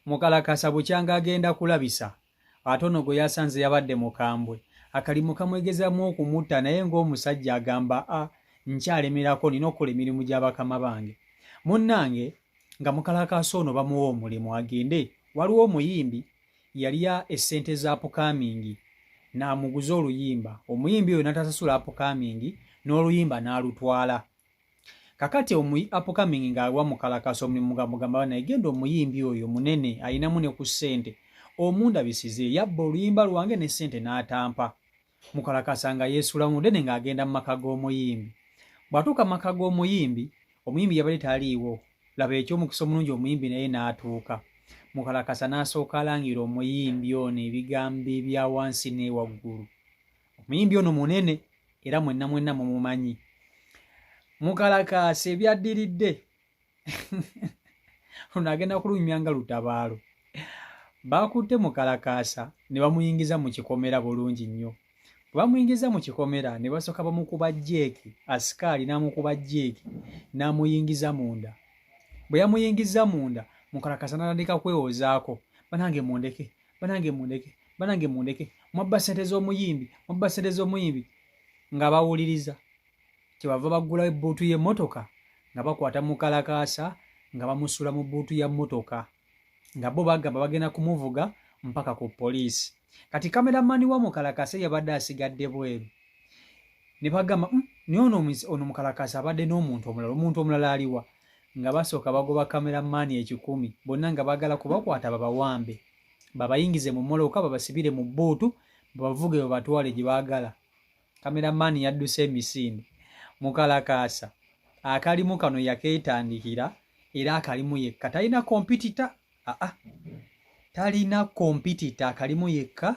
mukalakasa bukyanga agenda kulabisa ate ono gwe yasanze yabadde mukambwe akalimu kamwegezamu okumutta naye ng'omusajja agamba a nkyalemerako nina okukola emirimu gya bakama bange munnange nga mukalakasa ono bamuwa omulimu agende waliwo omuyimbi yalya essente za pukamingi n'amuguza oluyimba omuyimbi oyo natasasula apukamingi n'oluyimba n'alutwala kakati omuyi upcoming nga alwa mukalakasa omulimu mugamugamba bana egenda omuyimbi oyo munene ayinamu ne ku sente omundabisize yabba oluyimba lwange ne sente n'atampa mukalakasa nga yeesula munene nga agenda mu maka g'omuyimbi bw'atuuka maka g'omuyimbi omuyimbi yabadde taliiwo laba eky'omukisa omulungi omuyimbi naye n'atuuka mukalakasa n'asooka alangira omuyimbi ono ebigambo ebya wansi n'ewaggulu omuyimbi ono munene era mwenna mwenna mumumanyi mukalakaasi ebyaddiridde luno agenda kulunyumya nga lutabaalo baakutte mukalakaasa ne bamuyingiza mu kikomera bulungi nnyo bwe bamuyingiza mu kikomera ne basooka bamukuba jeeki asikaali n'amukuba jeeki n'amuyingiza munda bwe yamuyingiza munda mukalakaasa n'atandika kwewozaako banange mundeke banange mundeke banange mundeke mwabba sente z'omuyimbi mwabba sente z'omuyimbi nga bawuliriza kyebava baggula ebbuutu y'emmotoka nga bakwata mukalakaasa nga bamusula mu bbuutu ya mmotoka nga bo bagamba bagenda kumuvuga mpaka ku poliisi kati kameramani wa mukalakaasa yabadde asigadde bweru ne bagamba hmm, naye ono mukalakaasa abadde n'omuntu omulala omuntu omulala aliwa nga basooka bagoba camera man ekikumi bonna nga bagala kubakwata babawambe babayingize mu moloka babasibire mu bbuutu babavuge babatwale gye baagala camera man yadduse emisinde mukalakaasa akalimu kano yakeetandikira era akalimu yekka talina kompitita aa talina kompitita akalimu yekka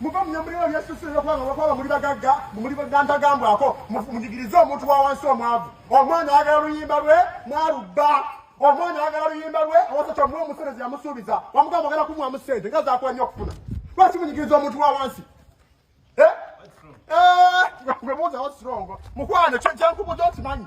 muva mu nyambuliro lyesuse eyokwanga lwakwaba muli bagagga muli nantagambwako mujigirize omuntu wa wansi omwavu omwana ayagala luyimba lwe mwalubba omwana ayagala luyimba lwe awasakya muwa omuserezi yamusuubiza wamugamba ogala kumuwamu sente nga zakuwa nnyo okufuna lwaki munyigiriza omuntu wa wansi eh? eh, mukwano kyenkubuza okimanyi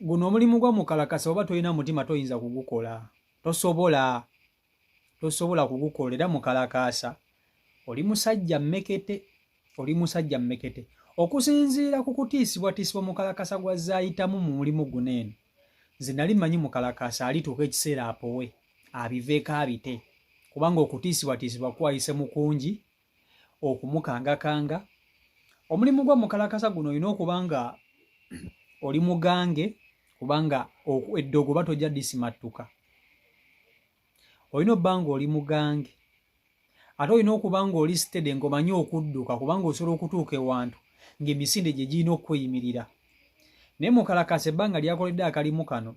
guno omulimu gwa mukalakasa oba tolina mutima toyinza kugukola tosobola tosobola kugukola era mukalakasa oli musajja mmekete oli musajja mmekete okusinziira ku kutiisibwatiisibwa mukalakasa gwa zaayitamu mu mulimu guno eno nze nali manyi mukalakasa alituuka ekiseera apowe abiveeko abite kubanga okutiisibwatiisibwa kwayise mukungi okumukangakanga omulimu gwa mukalakasa guno olina okuba nga oli mugange kubanga eddogo oba tojja disimattuka olina obba nga oli mugange ate olina okuba nga oli sitede ngaomanyi okudduka kubanga osobola okutuuka ewantu ng'emisinde gye girina okukweyimirira naye mukalakasa ebbanga lyakoledde akalimu kano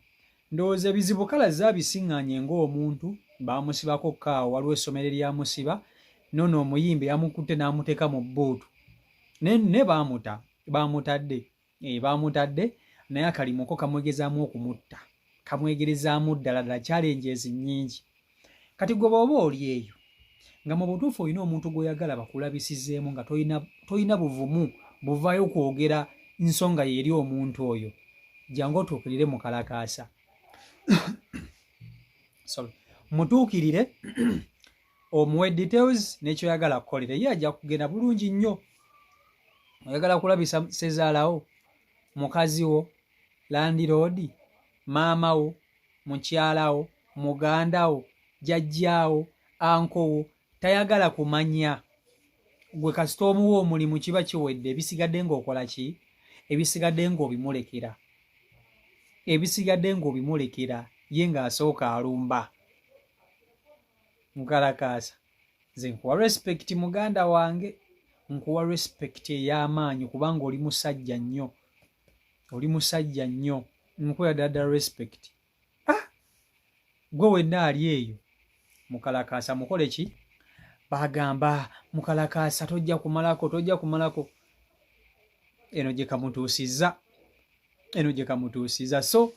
Ndowooza ebizibu kalazze abisiŋŋaanye ng'omuntu baamusibako kkaawo waliwo essomero eryamusiba nono omuyimbi yamukutte n'amuteeka mu bbuutu ne baamuta baamutadde eh, baamutadde naye akalimuko kamwegezaamu okumutta kamwegerezaamu ddala ddala kyalenjezi nnyingi kati gwe booba oli eyo nga mu butuufu olina omuntu gw'oyagala bakulabisizeemu nga tolina buvumu buvaayo kwogera nsonga yeeri omuntu oyo jangu otuukirire mu kalakaasa mutuukirire omuwe details nekyoyagala kukolera ye ajja kugenda bulungi nnyo oyagala kulabisa sezaalawo mukazi wo landiroodi maama wo mukyala wo muganda wo jajjaawo ankowo tayagala kumanya gwe kasita omuwa omulimu kiba kiwedde ebisigadde ngaokola ki ebisigadde ngaobimulekera ebisigadde ngaobimulekera ye ngaasooka alumba nkalakaasa nze nkuwa respect muganda wange nkuwa respect ey'amaanyi kubanga oli musajja nnyo oli musajja nnyo nkuwa dada respect ah! gwe wenna ali eyo mukalakaasa mukole ki bagamba mukalakaasa tojja kumalako tojja kumalako eno gye kamutuusizza eno gye kamutuusizza so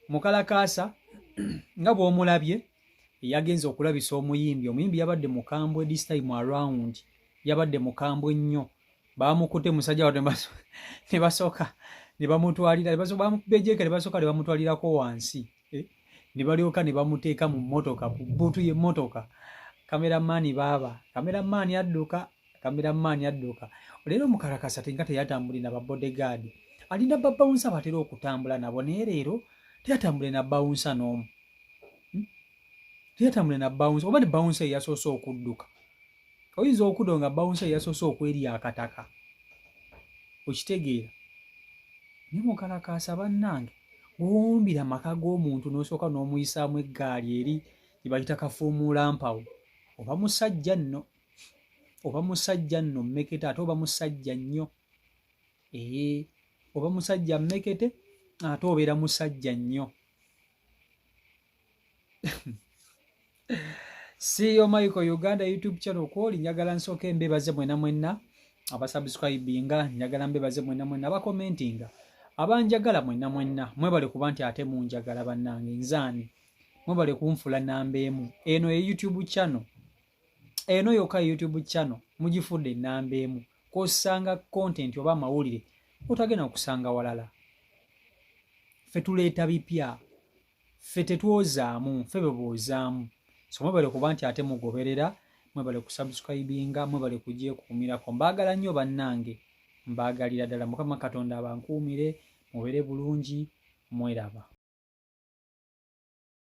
mukalakaasa nga bw'omulabye yagenze okulabisa omuyimbi omuyimbi yabadde mukambwe this time around yabadde mukambwe nnyo bamukute musajja watu ne basoka ne bamutwalira ne basoka bamubejeka ne basoka ne bamutwalira ko wansi eh? ne balyoka ne bamuteka mu motoka ku butu ye motoka kamera mani baba kamera mani adduka kamera mani adduka lero mukarakasa tinga teyatambuli na bodyguard alinda baba unsa batero okutambula nabo ne lero teyatambule na bounce n'omu hmm? teyatambule na bounce oba ne bounce yasoosa okudduka oyinza okudo nga bawunsa yasoose okwerya akataka okitegeera ni mukalakaasa bannange gwewumbira amaka g'omuntu n'osooka n'omuyisaamu eggaali eri gyebayita kafuumuula mpawo oba musajja nno oba musajja nno mmekete ate oba musajja nnyo ee oba musajja mmekete ate obeera musajja nnyo CEO Michael Uganda YouTube channel kwoli njagala nsooka embebaze mwena mwenna abasubscribinga njagala mbebaze mwena mwenna abakomentinga abanjagala mwena mwenna mwebale kuba nti ate munjagala bannange nzaani mwebale kunfula namba emu eno ye YouTube channel eno yokka YouTube channel mugifudde namba emu kwosanga content oba amawulire otagenda okusanga walala fe tuleeta bipya ffe tetwozaamu ffe beboozaamu so mwebale kuba nti ate mugoberera mwebale kusubscribinga mwebale kugyekuumirako mbaagala nnyo bannange mbaagalira ddala mukama katonda abankuumire mubere bulungi mweraba